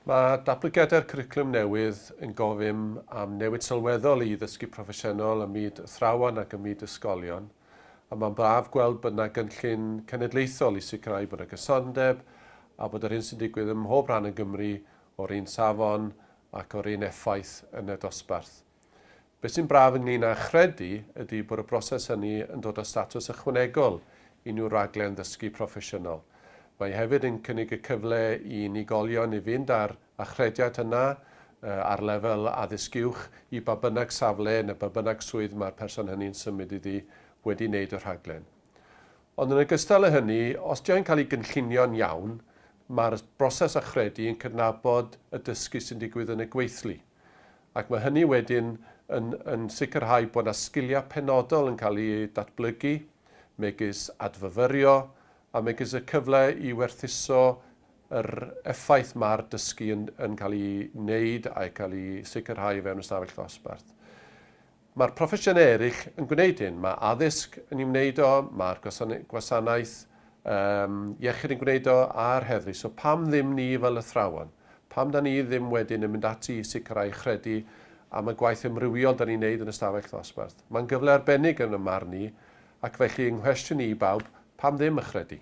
Mae datblygiadau'r cwricwlwm newydd yn gofyn am newid sylweddol i ddysgu proffesiynol ym myd athrawon ac ym myd ysgolion, a mae'n braf gweld bod yna gynllun cenedlaethol i sicrhau bod yna gysondeb a bod yr hyn sy'n digwydd ym mhob rhan o Gymru o'r un safon ac o'r un effaith yn y dosbarth. Beth sy'n braf ynglŷn â chredu ydy bod y broses hynny yn dod â statws ychwanegol i unrhyw raglen ddysgu proffesiynol. Mae hefyd yn cynnig y cyfle i unigolion i fynd â'r achrediad yna ar lefel Addysg Uwch i ba bynnag safle neu ba bynnag swydd mae'r person hynny'n symud iddi wedi wneud y rhaglen. Ond yn ogystal â hynny, os ydy o'n cael ei gynllunio'n iawn, mae'r broses achredu yn cydnabod y dysgu sy'n digwydd yn y gweithlu. Ac mae hynny wedyn yn yn sicrhau bod yna sgiliau penodol yn cael eu datblygu, megis adfyfyrio, a megis y cyfle i werthuso yr effaith mae'r dysgu yn yn cael ei wneud a'i cael ei sicrhau o fewn ystafell ddosbarth. Mae'r proffesiynau eraill yn gwneud hyn. Mae addysg yn ei wneud o, mae'r gwasanaeth um, iechyd yn gwneud o, a'r heddlu. So pam ddim ni fel athrawon? Pam da ni ddim wedyn yn mynd ati i sicrhau chredu am y gwaith ymrywiol da ni'n neud yn y stafell ddosbarth? Mae'n gyfle arbennig yn y marn i, ac felly yng nghwestiwn i i bawb, pam ddim y chredu?